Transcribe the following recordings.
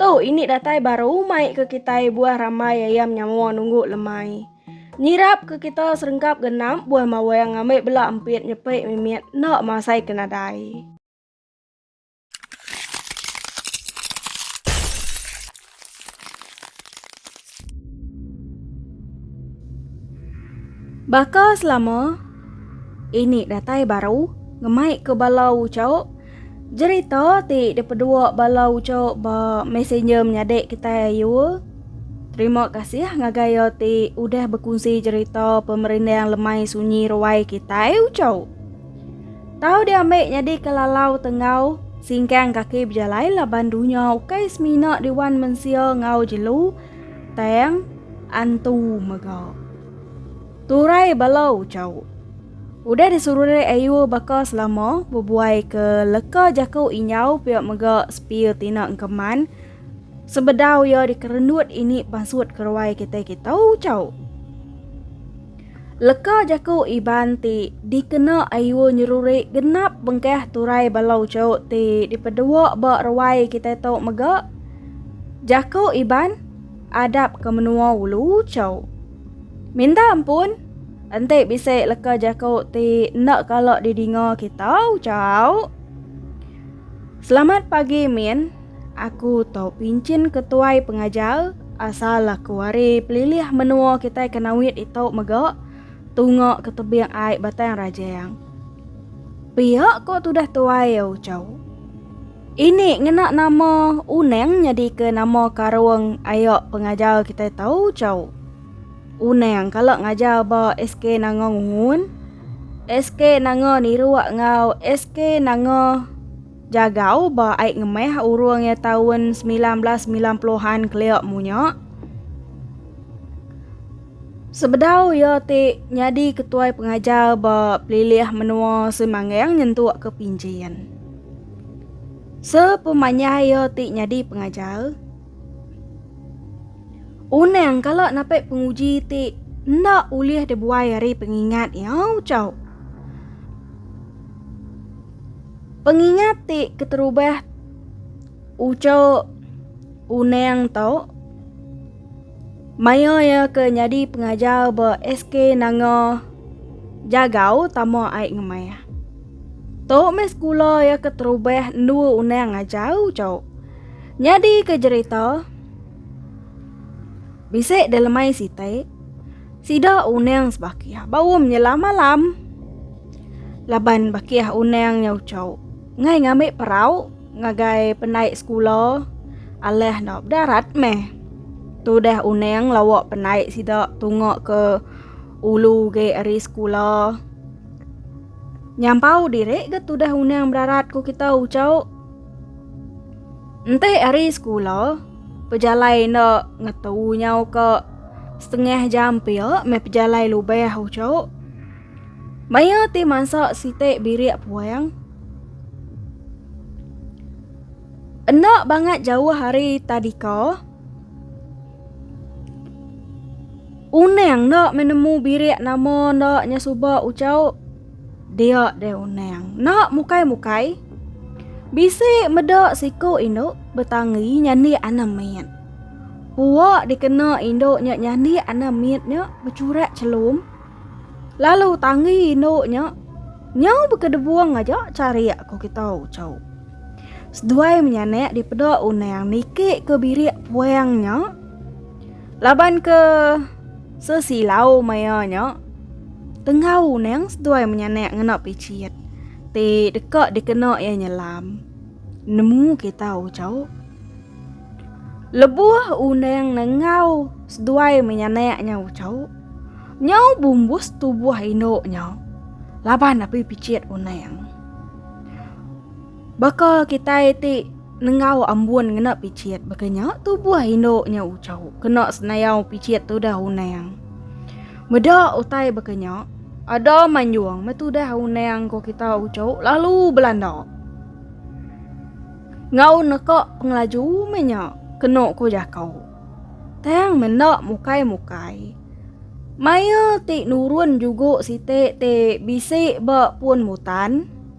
Tu ini datai baru mai ke kitai buah rambai ayam nyawa nunggu lemai. Nyirap ke kita serengkap genap buah mawang ngambil bela empit nyepik mimit enda masai ke nadai. Baka selama ini datai baru ngemaika bala uchu jerita ti dipedua bala uchu ba messenger menyadi kitai ayu. Terima kasih ngagai iya ti udah bekunsi jerita pemerindang lemai sunyi ruai kitai uchu. Tau diambi nyadika lalau te enggau singkang kaki bejalai laban dunya ukai semina di wan mensia enggau jelu tang antu mega. Turai bala uchaw. Udah disururi ayur baka selama bebuai ke leka jaku injau pia mega sepir tina engkeman sebedau iya dikerendut ini pansut keruai kitai kita uchaw. Leka jaku Iban ti dikena Ayul nyeruri genap bengkah turai bala uchu ti dipedua ba ruai kitai tu mega jaku Iban adap ke menua ulu uchu. Minta ampun enti bisi leka jaku ti enda kala didinga kita uchu. Selamat pagi Min. Aku tau pinchin ke tuai pengajar asal aku ari pelilih menua kitai ke nawit itu mega tunga ke tebing ai Batang Rajang. Pia ko tudah tuai ya ucau. Ini ngena nama Unang nyadi ke nama karung aya pengajar kitai tau ucau. Unang kala ngajar ba SK Nanga Ngungun, SK Nanga Niruk enggau SK Nanga Jagau ba ai ngemeh urung iya taun semilan belas semilan puluhan kelia munya. Sebedau iya ti nyadi ketuai pengajar ba Pelilih Menua Semanggang nyentuk ke Pinjin. Sepemanyah iya ti nyadi pengajar, Unang kala napi penguji ti enda ulih dibuai ari pengingat iya, ucau. Pengingat ti keterubah ucok Unang tu maya iya ke nyadi pengajar ba SK Nanga Jagau tama ai ngemah. Tu meh sekula iya keterubah endu Unang ngajar ucok. Nyadi ke jerita bisi dilemai siti. Sida unang sebakih baum nyela malam. Laban bakih unang nya ucau ngai ngambi perau ngagai penai sekula alah enda bedarat meh. Tudah unang lawa penai sida tunga ke ulu ge ari sekula. Nyampau diri ga tudah unang bedarat ku kita ucau. Enti ari sekula. Pejalai enda ngetu nyau ke setengah jam pia meh pejalai lubah uchu. Maya ti mansa siti birik puang. Enda bangat jauh ari tadika. Unang enda menemu birik nama enda nya suba uchu. Dia deh unang. Nak mukai-mukai. Bisi meda siku indu betangi nyandi anak mit. Puak dikena indu nya nyandi anak mit nya becurak celum. Lalu tangi indu nya nyau bekedebung aja charik ku kita ucau. Seduai menyanak dipeda unang niki ke birik puang nya. Laban ke sesilau maya nya, tenggau nang seduai menyanak ngena picit ti deka dikena iya nyelam. Nemu kita ucau. Lebuh undang nenggau seduai menyanak nya ucau, nyau bumbus tubuh indu nya laban api picit undang. Baka kitai ti nenggau ambun ngena pichit baka nya tubuh indu nya uchau kena senayau pichit tudah unang. Meda utai baka nya ada manjung metudah unang ko kita uchau lalu belanda. Ngau neka pengelaju me nya kena ko jakau. Tang menda mukai-mukai. Maya ti nurun jugo siti ti bisi ba pun mutan.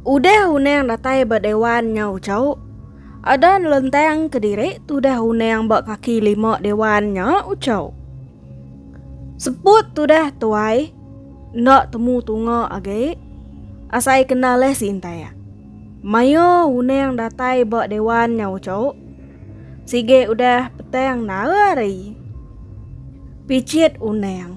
Udah unang datai ba dewan nyau chau, ada nelentang kediri tudah unang ba kaki lima dewan nya uchau. Seput tudah tuai enda temu tunga agi asai kena leh sintai. Mayuh unang datai ba dewan nyau chau, sigi udah petang nara ari pichit unang.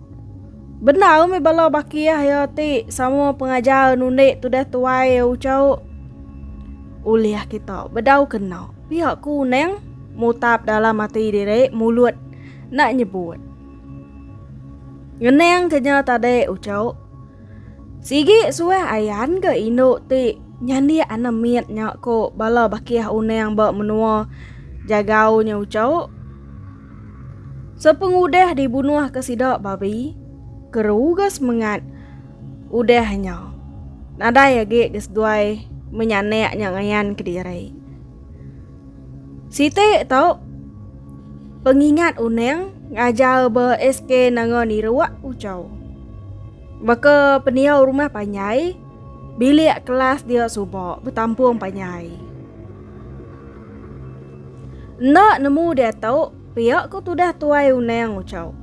Bendar mih bala baki ah iya ti sama pengajar nundi tudah tuai iya ucau. Ulih kita bedau kena pia kunang mutap dalam ati diri mulut nak nyebut. Ngenang kenya tadi ucau. Sigi suah ayan ke indu ti nyandik anak mit nya ko bala baki ah unang ba menua jagau nya ucau. Sepengudah dibunuhka sida babi, keruga semengat udah nya nadai agi ke seduai menyanak nya ngayan kediri. Siti tu pengingat unang ngajar ba SK Nanga Niruk Uchau. Baka peniau rumah panjai, bilik kelas dia suba betampung panjai. Enda nemu diatu pia ku tudah tuai Unang ngucau.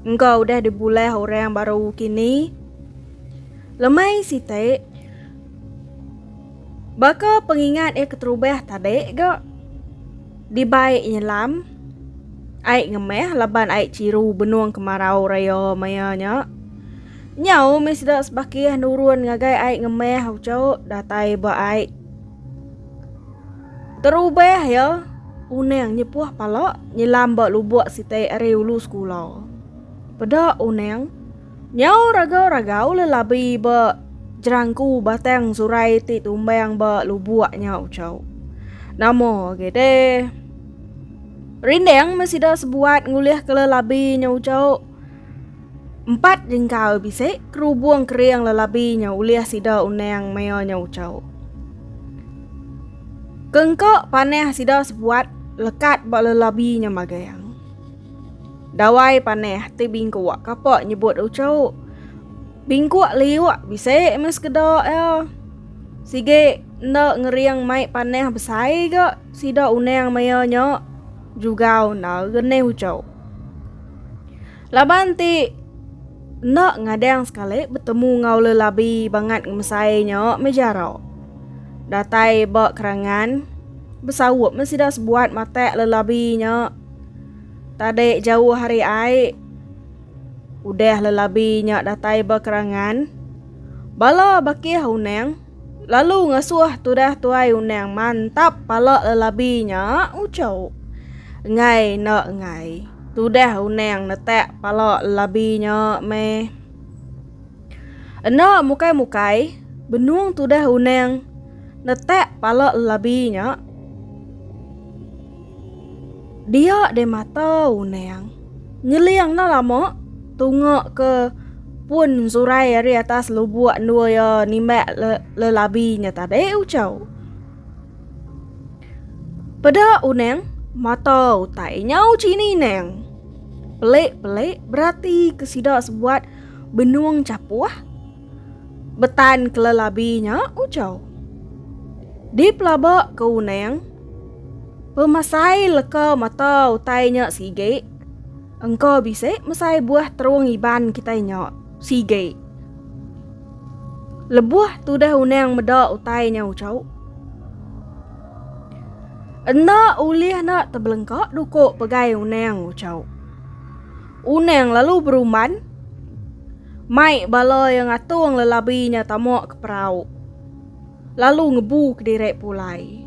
Engka udah dibulah orang baru kini. Lemai siti. Baka pengingat iya keterubah tadi ga. Dibai nyelam. Ai ngemah laban ai ciru benung kemarau raya maya nya. Nyau mih sida sebakih nurun ngagai ai ngemah ucau datai ba ai. Terubah iya Unang nyepuh pala nyelam ba lubuk sitai ari ulu sekula. Peda Unang nyau ragau-ragau lelabi ba jerangku batang surai ti tumbang ba lubuk nya ucau. Nama agi deh. Rindang meh sida sebuat ngulihka lelabi nya ucau. Empat jengkau bisi kerubung kering lelabi nya ulih sida unang maya nya ucau. Kengka panah sida sebuat lekat ba lelabi nya magang. Dawai panah ti bingkuk kapa nyebut ucau. Bingkuk liuk bisi meh sekeda iya. Sigi enda ngering mai panah besai ga sida unang maya nya jugau enda genih ucau. Laban ti enda ngadang sekali betemu enggau lelabi bangat ngemesai nya meh jaro. Datai ba kerangan besaup meh sida sebuat matak lelabi nya. Tadi jauh hari ai udah lelabi nya datai ba kerangan bala bakih unang. Lalu ngasuh tudah tuai undang mantap pala lelabi nya ucok. Enggai enda enggai. Tudah undang netak pala lelabi nya meh. Enda mukai mukai benung tudah undang netak pala lelabi nya. Dia deh mata unang. Ngeling enda lama, tunga ke pun Zurai ari atas lubuk endur iya nimbak lelabi nya tadi uchau. Peda unang, mata utai nya uchi ninang. Pelik-pelik berati ke sida sebuat benung chapuh. Betan kelelabi nya ujau. Dipelaba ke unang, pemasai leka mata utai nya sigi engka bisi mesai buah terung Iban kitai nya sigi. Lebuh tudah unang meda utai nya ujau, enda ulih enda tebelengka duku pegai unang ujau. Unang lalu beruman, mai bala iya ngatung lelabi nya tama ke perau lalu ngebu kediri pulai.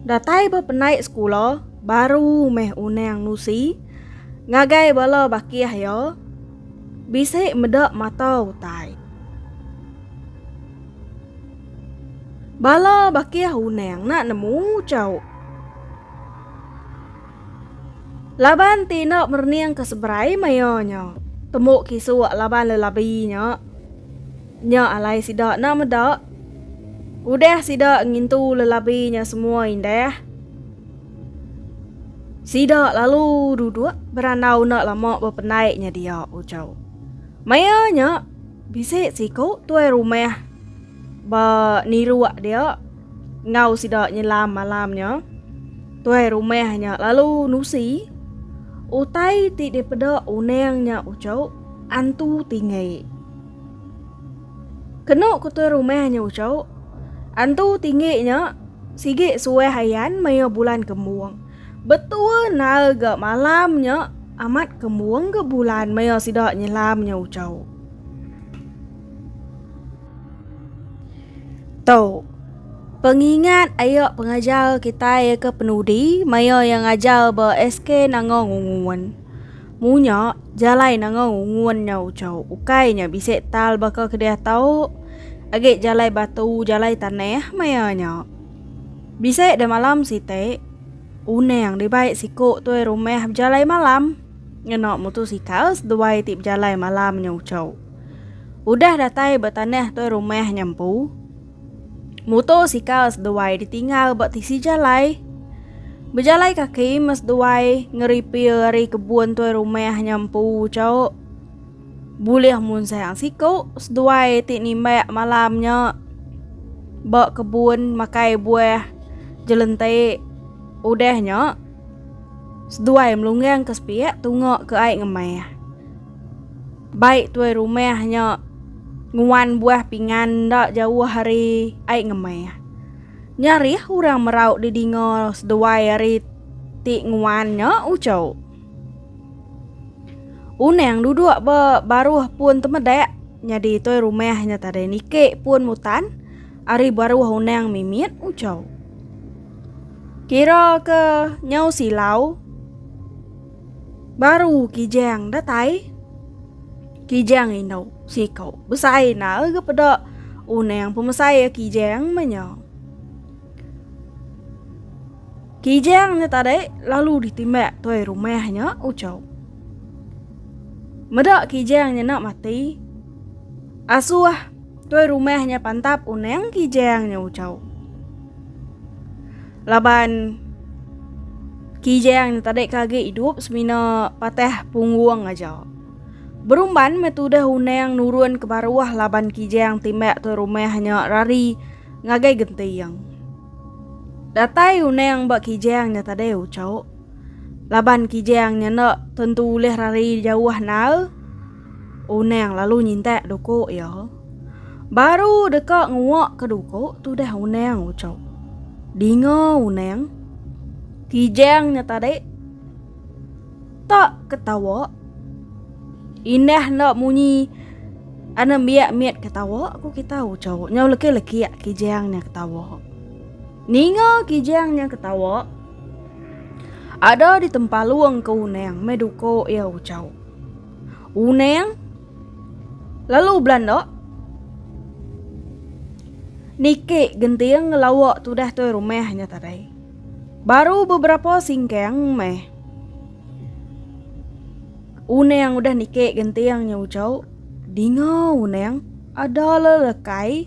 Datai ba penai sekula baru meh Unang nusi ngagai bala bakih iya bisi meda mata utai. Bala bakih Unang enda nemu chau. Laban ti enda merening ke seberai maya nya. Tembu kisuk laban lelabi nya. Nya alai sida enda meda. Udah sida ngintu lelabi nya semua indah. Sida lalu duduk berandau enda lama bependai nya dia uco. Maya nya bisi siku tuai rumah ba niruk dia. Enggau sida nyelam malam nya, tuai rumah nya lalu nusi utai ti dipeda unang nya uchu antu tinggi. Kenu ku tuai rumah nya uchu, antu tinggi nya sigi suah ayan maya bulan kembung. Betua nal ga malam nya amat kembung ga bulan maya sida nyelam nya uchu. Tau. Pengingat ayo pengajar kitai ke penudi maya iya ngajar ba SK Nanga Ngungun. Munya jalai Nanga Ngungun nyau chau ukai nya bisi tal baka kedia tau agi jalai batu jalai tanah maya nya. Bisi demalam siti unang dibai siku tuai rumah bejalai malam. Ngena mutusikal seduai ti bejalai malam nya ucho. Udah datai ba tanah tuai rumah nya empu. Mutusikal seduai ditinggal ba tisi jalai. Bejalai kaki mas seduai ngeripir ari kebun tuai rumah nya empu ucho. Bulih munsang siku seduai ti nimbak malam nya ba kebun makai buah jelentik. Udah nya. Seduai melunggang ke sepiak tunga ke ai ngemah. Baik tuai rumah nya nguan buah pingan enda jauh ari ai ngemah. Nya rih orang merau di dinga seduai ari ti nguan nya uchu. Unang duduk ba baruh pun temedak nyadi tuai rumah nya tadai niki pun mutan ari baruh unang mimit uchu. Kira ke nyau silau. Baru kijang datai. Kijang indu siku besai na ege peda unang pemesai ya kijang menyo. Kijang nya tadi lalu ditimbak tuai rumah nya ucau. Meda kijang nya nak mati. Asuh. Tuai rumah nya pantap unang Kijang nya ucau. Laban Kijang nya tadi ke agi idup semina patah punggung aja. Berumban meh tudah unang nurun ke baruh laban Kijang timbak tuai rumah nya rari ngagai genting. Datai unang ba Kijang nya tadi ucau. Laban Kijang nya enda tentu ulih rari jauh nal. Unang lalu nyintak duku iya. Baru deka nguak ke duku tudah Unang ucau. Dinga Unang. Kijang nya tadi. Tak ketawa. Indah nda munyi ana biak mit ketawa ku kita ucau. Nyau lekik-lekik Kijang nya ketawa. Ninga Kijang nya ketawa. Ada di tempalung ke Unang me duku iya ucau. Uneng lalu belanda niki genting ngelawa tudah toi rumah nya tadi. Baru beberapa singkang meh. Uneng udah niki genting nya ucau, dinga uneng ada lelekai.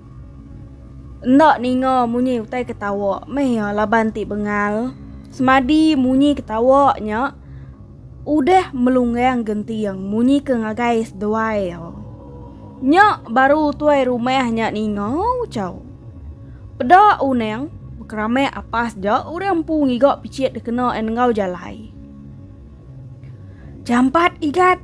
Enda ninga munyi utai ketawa meh iya laban ti bengal. Semadi munyi ketawa nya udah melunggang genting munyi ke ngagai seduai iya. Nya baru tuai rumah nya ninga ucau. Peda unang bekeramak apas ja orang empu ngiga pichit dikena enggau jalai. Jampat igat.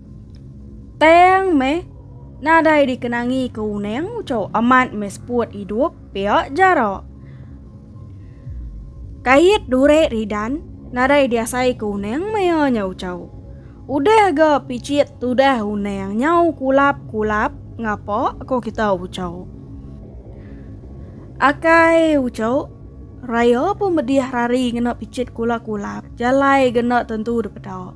Tang meh, nadai dikenangi ke uning uco amat meh seput idup pia jara. Kait dure ridan, nadai diasai ke uning mea nya uco. Udah ga picit tudah uning nyau kulap kulap ngapa ko kita uco. Akai uco, raya pun medih hari ngena picit kulap kulap jalai ga enda tentu dipeda.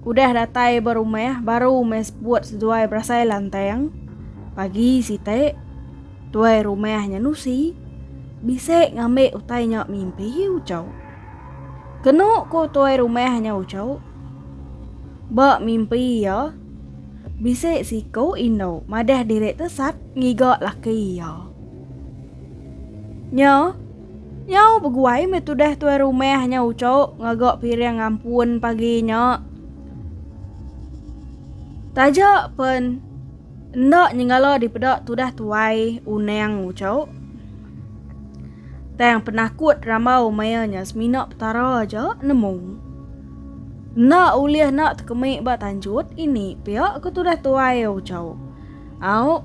Udah datai ba rumah baru meh sebut seduai berasai lantang. Pagi siti, tuai rumah nya nusi bisi ngambi utai nya mimpi ucau. Kenu ku tuai rumah nya ucau, ba mimpi iya bisi siku indu madah diri tesat ngiga laki iya. Nya. Nyau beguai meh tudah tuai rumah nya uco ngaga piring ampun pagi nya. Taja pen enda nyengala dipeda tudah tuai unang uco. Tang penakut rambau maya nya semina Petara aja nemu. Enda ulih nak tekemi ba tanjut ini pia ke tudah tuai uco. Au